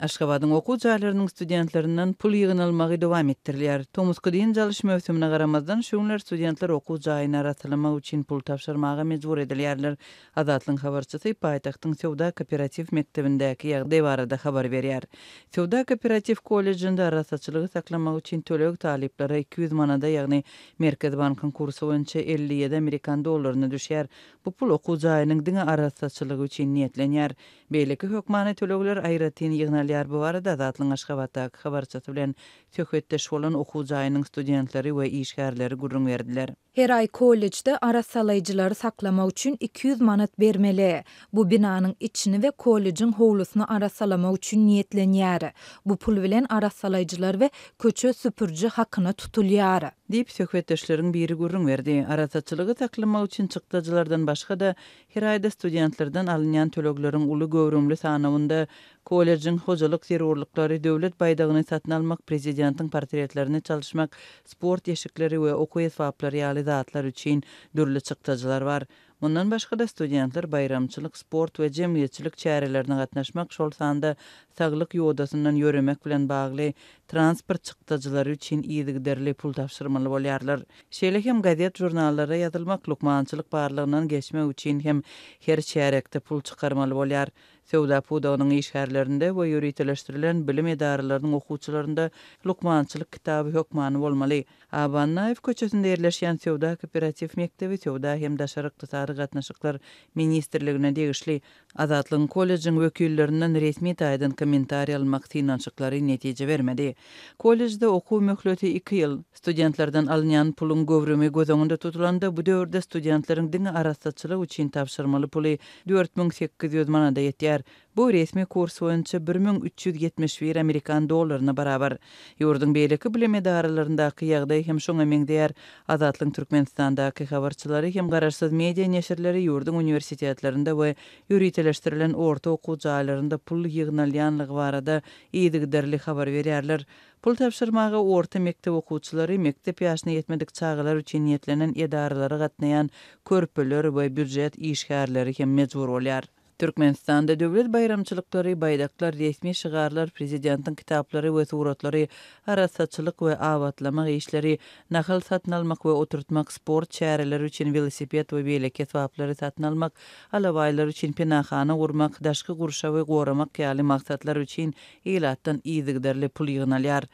Aşgabadyň okuw jaýlarynyň studentlerinden pul ýygnalmagy dowam etdirilýär. Tomusky dynç alyş möwsümine garamazdan, şu günler studentler okuw jaýyny arassalamak üçin pul tabşyrmaga mejbur edilýärler. Azatlygyň habarçysy paýtagtyň Söwda-kooperatiw mekdebindäki ýagdaý barada habar berýär. Söwda-kooperatiw kollejinde arassaçylygy saklamak üçin töleg talyplara iki ýüz manada, ýagny Merkezi bankyň kursy boýunça elli ýedi amerikan dollaryna düşýär. Bu pul okuw jaýynyň diňe arassaçylygy üçin niýetlenýär. Beýleki hökmany tölegler aýratyn ýygnalýar, bu barada Azatlygyň Aşgabatdaky habarçysy bilen söhbetdeş bolan okuw jaýynyň studentleri we işgärleri gürrüň berdiler. Her aý kollejde arassalaýjylary saklamak üçin iki ýüz manat bermeli. Bu binanyň içini we kollejiň howlusyny arassalamak üçin niýetlenýär. Bu pul bilen arassalaýjylar we köçe süpüriji hakyna tutulýar. Diýip, söhbetdeşleriň biri gürrüň berdi. Arassaçylygy saklamak üçin çykdajylardan başga-da, Her aýda studentlerden alynýan tölegleriň uly göwrümli sanawynda kollejiň hojalyk zerurlyklary, Döwlet baýdagyny satyn almak, Prezidentiň portretlerini çalyşmak, sport eşikleri we okuw esbaplary ýaly zatlar üçin dürli çykdajylar bar. Mundan başga-da, studentler baýramçylyk, sport we jemgyýetçilik çärelerine gatnaşmak, şol sanda saglyk ýodasyndan ýöremek bilen bagly transport çykdajylary üçin yzygiderli pul tabşyrmaly bolýarlar. Şeýle hem gazet-žurnallara ýazylmak, lukmançylyk barlagyndan geçmek üçin hem her çärýekde pul çykarmaly bolýar. Söwda pudagynyň işgärlerinde we ýöriteleşdirilen bilim edaralarynyň okuwçylarynda lukmançylyk kitaby hökmany bolmaly. Aba Annaýew köçesinde ýerleşýän Söwda kooperatiw mekdebi Söwda hem daşary ykdysady gatnaşyklar ministrligine degişli Azatlygyň kollejiň wekillerinden resmi taýdan kommentariý almak synanyşyklary netije bermedi. Kollejde okuw möhleti iki ýyl. Studentlerden alynýan puluň göwrümi göz öňünde tutulanda, bu döwürde studentleriň diňe arassaçylyk üçin tabşyrmaly puly dört müň sekiz ýüz manada ýetýär. Bu resmi kurs boýunça bir müň üç ýüz ýetmiş bir amerikan dollaryna barabar. Ýurduň beýleki bilim edaralaryndaki ýagdaý hem şoňa meňzeýär. Azatlygyň Türkmenistandaky habarçylary hem garaşsyz media neşirleri ýurduň uniwersitetlerinde we ýöriteleşdirilen orta okuw jaýlarynda pul ýygnalýanlygy barada yzygiderli habar berýärler. Pul tabşyrmaga orta mekdep okuwçylary, mekdep ýaşyna ýetmedik çagalar üçin niýetlenen edaralara gatnaýan körpeler we býujet işgärleri hem mejbur bolýar. Türkmenistanda döwlet baýramçylyklary, baýdaklar, resmi şygarlar, prezidentiň kitaplary we suratlary, arassaçylyk we abatlamak işleri, nahal satyn almak we oturtmak, sport çäreleri üçin welosiped we beýleki esbaplary satyn almak, alabaýlar üçin penahana gurmak, daşky gurşawy goramak ýaly maksatlar üçin ilatdan yzygiderli pul ýygnalýar.